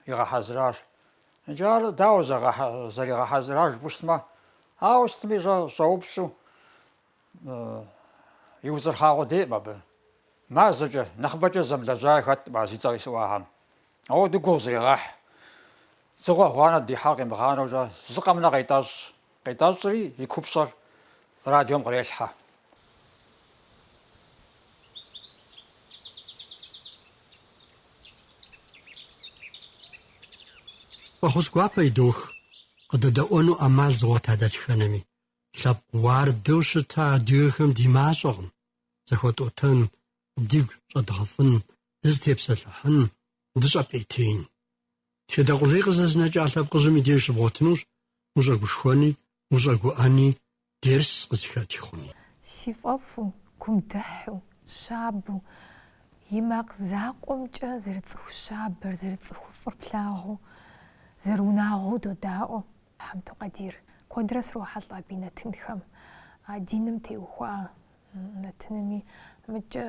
игъэхьэзыращ. Икӏи ар дауэ зэригъэхьэзыра жыпӏэу щытмэ, ауэ сытми щӏэупщӏу и узырхъагъуэ деӏым абы. Мазэкӏэ, нэхъыбэкӏэ зэмылэжьаи хэткъым а зи цӏэ къисӏуахэм. Ауэдэ гугъу зрегъэхь. Дзыгъуэ гъуанэ дихьар къимыгъанэукӏэ зы къэмынэу къетӏэщӏ, Къитӏэщӏри и купщӏэр радиом кърелъхьэ. Фӏэхъус гуапэ идох, къыдэдэӏуэну ӏэмал зыгъуэта дэтхэнэми. Лъэпкъ уардэу щыта адыгэхэм ди мащӏэкъым, зэхуэтӏотэн, дигу щӏэдгъэфӏын, дызытепсэлъыхьын, дыщӏэпӏейтеин. Тхыдэ къулей къызэзынэкӏа лъэпкъыжьым и деж щыбгъуэтынущ ущӏэгушхуэни, ущӏэгуӏэни, дерс къызыхэти хъуни. Си фӏэфӏу, гум дыхьэу, щабэу, и макъ закъуэмкӏэ зэрыцӏыху щабэр, зэрыцӏыху фӏыр плъагъуу, зэрыунагъуэу додаӏуэ Хьэмту Къадир. Куэдрэ срохьэлӏэ абы и нэтынхэм, а диным теухуа нэтынми. Мыдкӏэ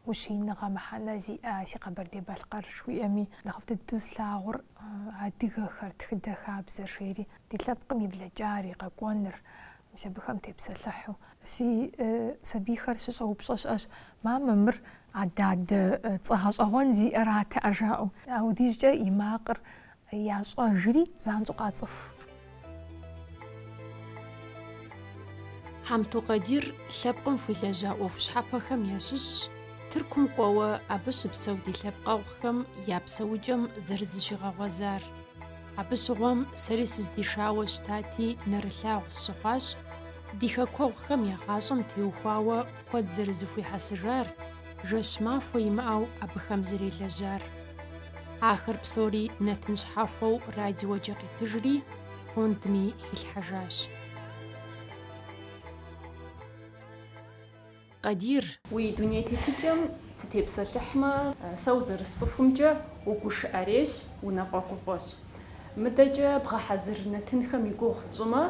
Ущииныгъэ мыхьэнэ зиӏэ си Къэбэрдей-Балъкъэр жыхуиӏэми, нэхъыфӏ дыдэу слъагъур адыгэхэр, тхыдэ хабзэр жери, ди лъэпкъым и блэкӏар, и къэкӏуэныр, мис абыхэм тепсэлъыхьу. Си сабийхэр щыщӏэупщӏэ щыӏэщ, Мамэ, мыр ададэ цӏэ гъэщӏэгъуэн зиӏэра тӏэ жаӏэу. Аудижкӏэ и макъыр Ящӏэжри занщӏэу къацӏыху. Хьэмту Къадир лъэпкъым хуилэжьа ӏуэху щхьэпэхэм ящыщщ, Тыркум кӏуэуэ абы щыпсэу ди лъэпкъэгъухэм я псэукӏэм зэрызыщигъэгъуэзар. Абы щыгъуэм сэри сыздишауэ щытати, нэрылъагъу сщыхъуащ, ди хэкуэгъухэм я гъащӏэм теухуауэ куэд зэрызыхуихьэсыжар, жэщ махуэ имыӏэу абыхэм зэрелэжьар. Ахэр псори нэтын щхьэхуэу радиокӏэ къитыжри, фондми хилъхьэжащ. Къадир! Уи дуней тетыкӏэм сытепсэлъыхьмэ, сэ узэрысцӏыхумкӏэ угушыӏэрейщ, унафӏэгуфӏэщ. Мыдэкӏэ бгъэхьэзыр нэтынхэм и гугъу тщӏымэ,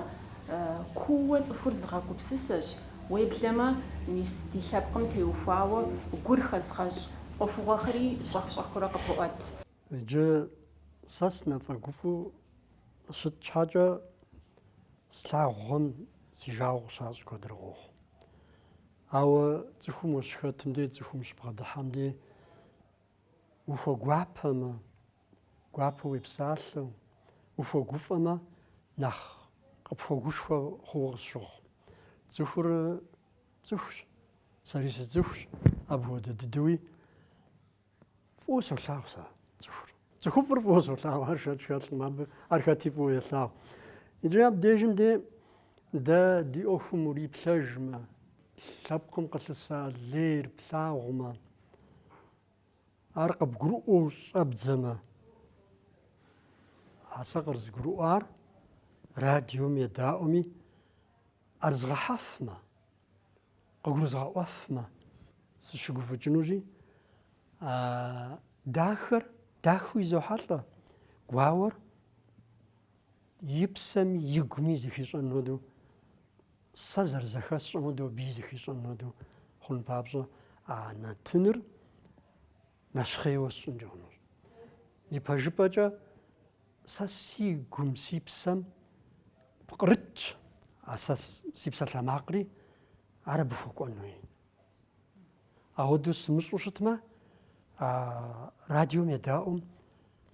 кууэ цӏыхур зыгъэгупсысэщ, уеблэмэ, мис ди лъэпкъым теухуауэ гур хэзыгъэщӏ ӏуэхугъуэхэри щӏэх-щӏэхыурэ къыпоӏэт. Иджы сэ сынэфӏэгуфӏу щыт щхьэкӏэ слъагъухэм си жагъуэ къыщащӏ куэдрэ къохъу. Ауэ цӏыхум ущыхэтым дей, цӏыхум щыбгъэдыхьэм дей ухуэгуапэмэ, гуапэу уепсалъэу, ухуэгуфӏэмэ, нэхъ къыпхуэгушхуэ хъууэ къысщохъу. Цӏыхур Цӏыхущ. Сэри сыцӏыхущ. Апхуэдэ дыдэуи фӏыуэ солъагъу сэ цӏыхур. Цӏыхуфӏыр фӏыуэ солъагъу, ар шэч хэлъкъым абы, ар хэти фӏыуэ елъагъу. Иджы абдежым де дэ ди ӏуэхум уриплъэжмэ, лъэпкъым къылъыса лейр плъагъумэ, ар къыбгурыӏуэу щӏэбдзэмэ, а сэ къырызгурыӏуар радиом едаӏуэми, Ар згъэхьэфмэ, къыгурызгъэӏуэфмэ, сыщыгуфӏыкӏынущи, а дахэр дахэу изохьэлӏэ, гуауэр и псэми, и гуми зыхищӏэн хуэдэу, сэ зэрызэхэсщӏэм хуэдэу абыи зыхищӏэн хуэдэу хъун папщӏэ а нэтыныр нэщхъейуэ сщӏынкӏэ хъунущ. Ипэжыпӏэкӏэ сэ си гум, си псэм пкърытщ, а сэ си псалъэмакъри ар абы хуэкӏуэнуи. Ауэдэу сымыщӏу щытмэ, радиом едаӏуэм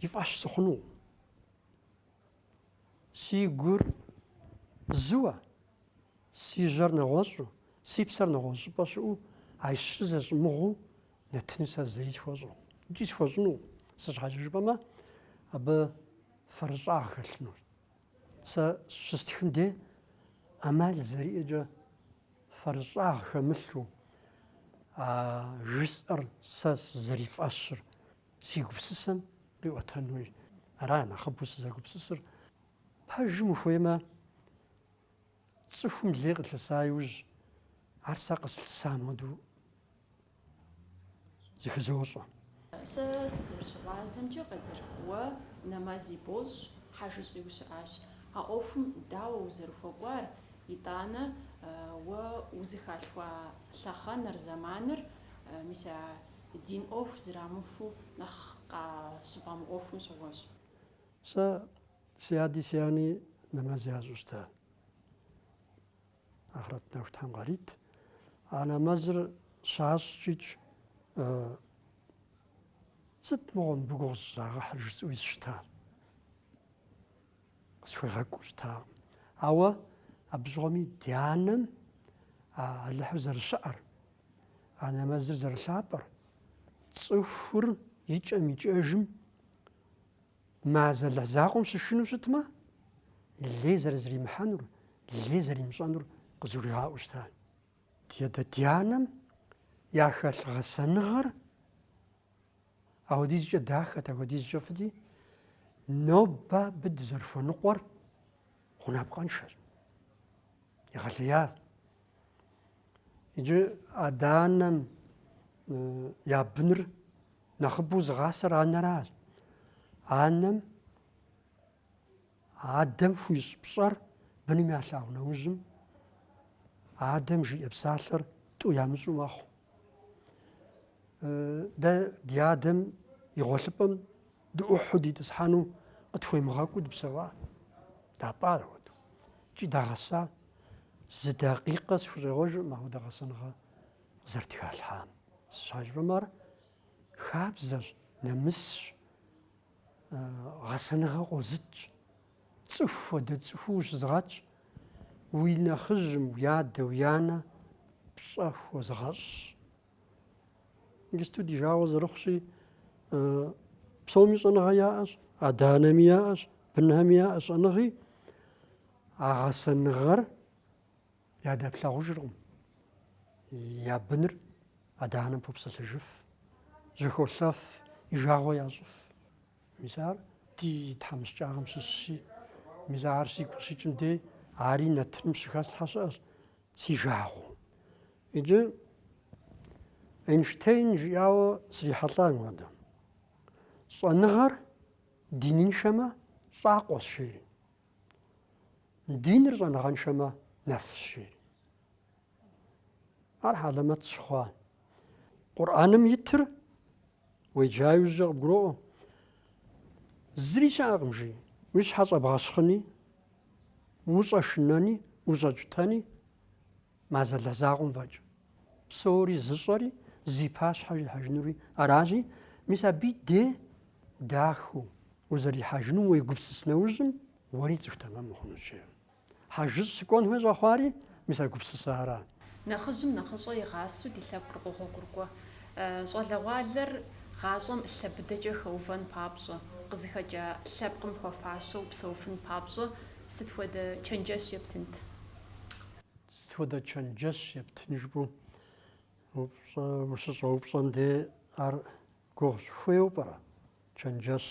и фӏэщ сыхъунукъым. Си гур зыуэ, си жьэр нэгъуэщӏу, си псэр нэгъуэщӏ щӏыпӏэ щыӏэу, а щыр зэщӏымыгъуу нэтыну сэ зэи схуэщӏакъым. Икӏи схуэщӏынукъым. Сэ щхьэкӏэ жыпӏэмэ, абы фэрыщӏагъ хэлъынущ. Сэ щыстхым де ӏэмал зэриӏэкӏэ фэрыщӏагъ хэмылъу, а жысӏэр сэ сызэрифӏэщыр Си гупсысэм къиӏуэтэнуи ара нэхъыбэу сызэгупсысыр. Пэжым ухуеймэ, цӏыхум лей къылъыса иужь, ар сэ къыслъысам хуэдэу зыхызощӏэ. Сэ сызэрыщыгъуазэмкӏэ, Къадир, уэ нэмэзи бощӏ, хьэжыщӏи ущыӏащ. А ӏуэхум дауэ узэрыхуэкӏуар, итӏанэ уэ узыхалъхуа лъэхъэныр, зэманыр, мис а Дин ӏуэху зэрамыхуэу нэхъ къащыфӏэмыӏуэхум щыгъуэщ. Сэ си ади си анни нэмэз ящӏу щыта. Ахърэт нэху Тхьэм къарит. А нэмэзыр щащӏкӏикӏ сыт мыгъуэ мыбы гугъу зыщӏрагъэхьыр жысӏэуи сыщытащ. Къысхуегъэкӏуу щытакъым. Ауэ абы щыгъуэми ди анэм а Алыхьыр зэрыщыӏэр, а нэмэзыр зэрылъапӏэр, цӏыхур икӏэм икӏэжым а зы Алыхь закъуэм щышынэу щытмэ, лей зэрызэримыхьэнур, лей зэримыщӏэнур къызгуригъаӏуэу щыта. Де дэ ди анэм яхэлъ гъэсэныгъэр Апхуэдизкӏэ дахэт, апхуэдизкӏэ фӏыти, нобэ абы дызэрыхуэныкъуэр гъунапкъэншэщ. Егъэлеящ. Иджы адэ-анэм я быныр нэхъыбэу зыгъасэр анэращ. Анэм Адэм хуищӏ пщӏэр быным ялъагъу нэужьым, адэм жиӏэ псалъэр тӏу ямыщӏу мэхъу. Дэ ди адэм и гъуэлъыпӏэм дыӏухьу дитӏысхьэну къытхуемыгъэкӏуу дыпсэуа? Дапӏа ар апхуэдэу? Икӏи дагъэса? Зы дакъикъэ сыхущӏегъуэжыркъым апхуэдэ гъэсэныгъэ къызэрытхалъхьам. Сыт щхьэкӏэ жыпӏэмэ, ар хабзэщ, нэмысщ. гъэсэныгъэ къозытщ, цӏыху хуэдэ цӏыхуу ущызыгъэтщ, уи нэхъыжьым, уи адэ, уи анэ пщӏэ хуозыгъэщӏщ. Иджысту ди жагъуэ зэрыхъущи, псоми щӏэныгъэ яӏэщ, адэ-анэми яӏэщ, бынхэми яӏэщ щӏэныгъи, а гъэсэныгъэр Ядэплъагъужыркъым. Я быныр адэ-анэм попсэлъыжыф, жьэхолъэф, и жагъуэ ящӏыф. Мис ар ди тхьэмыщкӏагъэм щыщщи, мис ар сигу къыщыкӏым дей, ари нэтыным щыхэслъхьэ щыӏэщ, си жагъуэу. Иджы Эйнштейн жиӏауэ срихьэлӏа мыдэ. Щӏэныгъэр диныншэмэ, щӏакъуэщ, жери. Диныр щӏэныгъэншэмэ нэфщ, жери. Ар хьэлэмэт сщыхъуа? Къурӏэным итыр уеджа иужькӏэ къыбгуроӏуэ. Зыри щыӏэкъым, жи. Уи щхьэ щӏэбгъэщхъыни, ущӏэшынэни, ущӏэукӏытэни. Мо зы Алыхь закъуэм фӏэкӏ псори зыщӏэри, зи пащхьэ уихьэжынури аращи, мис абы и де дахэу узэрихьэжынум уегупсыс нэужьым, уэри цӏыху тэмэм ухъунущ, жеӏэ. Хьэжыщӏ сыкӏуэн хуей щӏэхъуари, мис а гупсысэ ара? Нэхъыжьым нэхъыщӏэ игъасэу ди лъэпкъыр къогъуэгурыкӏуэ. Щӏалэгъуалэр гъащӏэм лъэ быдэкӏэ хэувэн папщӏэ, къызыхэкӏа лъэпкъым хуэфащэу псэуфын папщӏэ сыт хуэдэ чэнджэщ ептынт? Сыт хуэдэ чэнджэщ ептын жыпӏэу упщӏэ, ущыщӏэупщӏэм де ар гугъущ, хуейуэ пӏэрэ? Чэнджэщ,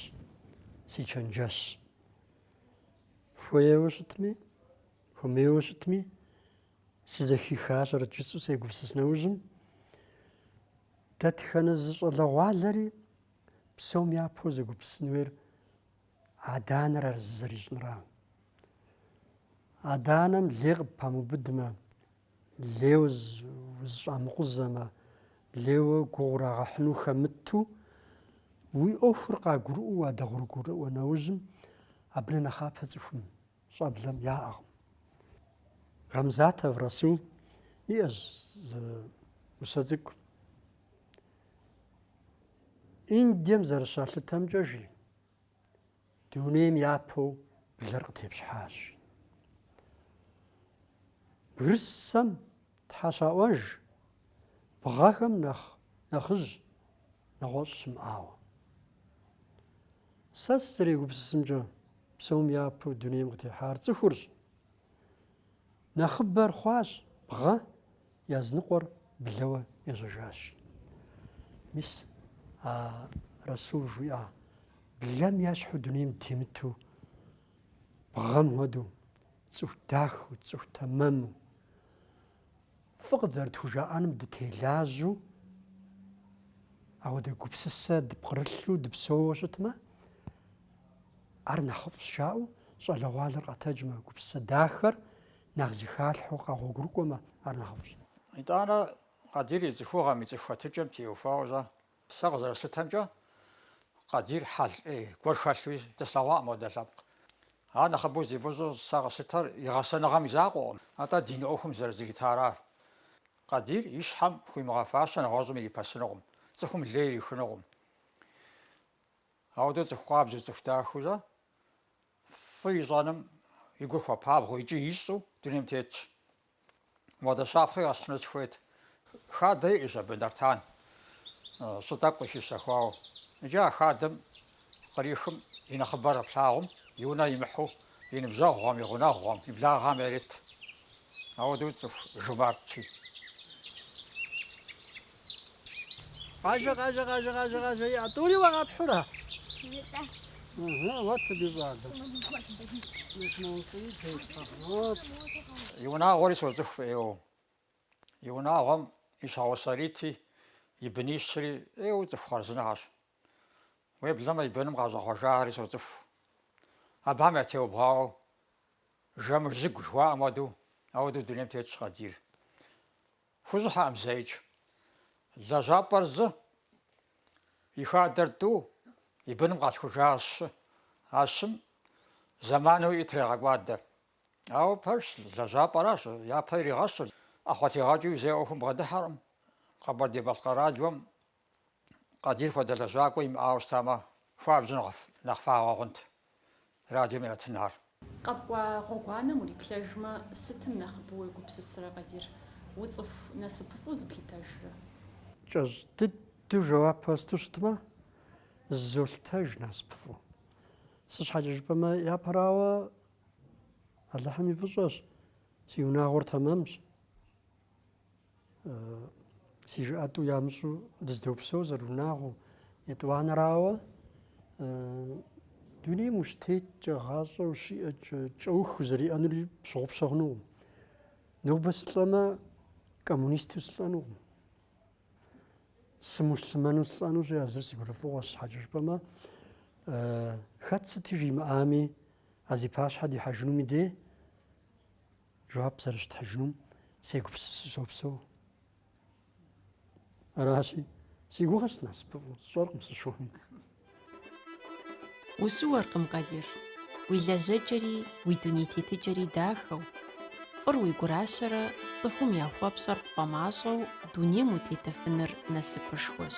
си чэнджэщ. Хуейуэ щытми, хуэмейуэ щытми, сызэхихащэрэт жысӏэу сегупсыс нэужьым. Дэтхэнэ зы щӏалэгъуалэри псом япэу зэгупсысын хуейр Адэ-анэр ар зызэрищӏынра. Адэ-анэм лей къыппамыубыдмэ, лей узыщӏамыкъузэмэ, лейуэ гугъу урагъэхьыну хэмыту, уи ӏуэхур къагурыӏуэу уадэгъуэгурыкӏуэ нэужьым, абы нэхъ нэхъапэ цӏыхум, щӏэблэм яӏэкъым. Гамзатов Расул иӏэщ зы усэ цӏыкӏу. Индием зэрыщалъытэмкӏэ жи, дунейм япэу блэр къытепщхьащ. Бгырысцэм Тхьэ щаӏуэж, бгъэхэм нэхъ нэхъыжь нэгъуэщӏ щымыӏауэ. Сэ сызэрегупсысымкӏэ, псом япэу дунейм къытехьар цӏыхурщ. Нэхъыбэр хъуащ бгъэ, языныкъуэр блэуэ ежьэжащ. Мис а Расул жиӏа, блэм ящхьу дунейм темыту, бгъэм хуэдэу, цӏыху дахэу, цӏыху тэмэму, Фӏы къызэрытхужаӏэным дытелажьэу, ауэдэ гупсысэ дыпкърылъу дыпсэууэ щытмэ, ар нэхъыфӏщ жаӏэу, щӏалэгъуалэр къэтэджмэ, гупсысэ дахэр нэхъ зыхалъхьэу къэгъуэгурыкӏуэмэ, ар нэхъыфӏщ. Итӏанэ Къадир и цӏыхугъэм, и цӏыху хэтыкӏэм теухуауэ-щэ? Сэ къызэрыслъытэмкӏэ, Къадир хьэл ӏей гуэр хэлъуи дэслъэгъуакъым апхуэдэ лъэпкъ. Ар нэхъыбэу зи фӏыщӏэу сэ къыслъытэр и гъэсэныгъэм и закъуэкъым, атӏэ дин ӏуэхум зэрызритаращ. Къадир и щхьэм хуимыгъэфащэ нэгъуэщӏым ирипэсынукъым, цӏыхум лей ирихынукъым. Ауэдэу цӏыху къабзэу, цӏыху дахэурэ, фӏы ищӏэным и гур хуэпабгъэу икӏи ищӏэу дунейм тетщ. Ауэдэ щапхъи къэсхьыну сыхуейт. Хадэ иӏэщ абы Нартан, щӏы тӏэкӏу къыщищэхуауэ. Иджы а хадэм кърихым и нэхъыбэр плъагъум, и унэ имыхьу, и ныбжьэгъухэм, и гъунэгъухэм, и благъэм ярет. Ауэдэу цӏыху жумартщи. Къажэ, къажэ, къажэ, къажэ, къажэ, иӏэ, тӏури уагъэпхьура? Нытӏэ. И унагъуэри соцӏыху фӏы ӏейуэ. И унагъуэм и щхьэгъусэ Рити, и бынищри ӏейуэ цӏыху хъарзынэхьэщ. Уеблэмэ и быным къащӏэхъуэжахэри соцӏыху. Абыхэм ятеубгъуауэ Жэмыжьыгу жыхуаӏэм хуэдэу, ауэдэу дунейм тетщ Къадир. Хущӏыхьэкъым зэикӏ. Лэжьапӏэр зы, и хадэр тӏу, и быным къалъхужар щы. А щым зэману иӏэр трегъэкӏуадэ. Ауэ пэжщ, лэжьапӏэращ, япэ иригъэщыр, ӏэхъуэтегъэкӏыу зэи ӏуэхум бгъэдыхьэркъым. Къэбэрдей-Балъкъэр радиом Къадир хуэдэ лэжьакӏуэ имыӏауэ щытамэ, хуабжьу нэхъ фагъуэ хъунт радиом и нэтынхэр. Къэпкӏуа гъуэгуанэм уриплъэжмэ, сытым нэхъыбэу уегупсысрэ, Къадир? Уцӏыху насыпыфӏу зыплъытэжрэ? Кӏэщӏ дыдэу жэуап хуэсту щытмэ, зызолъытэж насыпыфӏу. Сыт щхьэкӏэ жыпӏэмэ, япэрауэ, Алыхьым и фӏыщӏэщ, си унагъуэр тэмэмщ. Си жыӏэ тӏу ямыщӏу дыздопсэу зэрыунагъуэу. Етӏуанэрауэ дунейм ущытеткӏэ, гъащӏэ ущиӏэкӏэ, кӏэух узэриӏэнур пщыгъупщэ хъунукъым. Нобэ сылӏэмэ, коммунисту сылӏэнукъым. Сымуслъымэну сылӏэнущи, а зыр си гурыфӏыгъуэщ, щхьэкӏэ жыпӏэмэ, хэт сыт жимыӏами, а зи пащхьэ дихьэжынум и дей, Жэуап зэрыщытхьыжынум сегупсысу сопсэу. Аращи, си гугъэщ сынасыпыфӏу, сщӏэркъым сыщыуэми. Ущыуэркъым, Къадир. Уи лэжьэкӏэри, уи дуней тетыкӏэри дахэу. Фӏыр уи гуращэрэ цӏыхум яхуэпщӏэр пфӏэмащӏэу дунейм утетэфыныр насыпышхуэщ.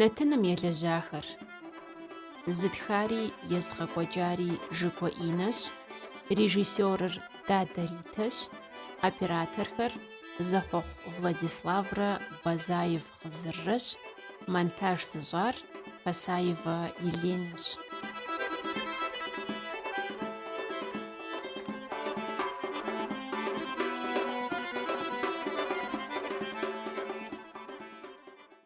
Нэтыным елэжьахэр. Зытхари езыгъэкӏуэкӏари Жыгуэ Инэщ, режиссерыр Дадэ Ритэщ, операторхэр, Зэхъуэхъу Владиславрэ Базаев Хъызыррэщ, монтаж зыщӏар Пасаева Еленэщ.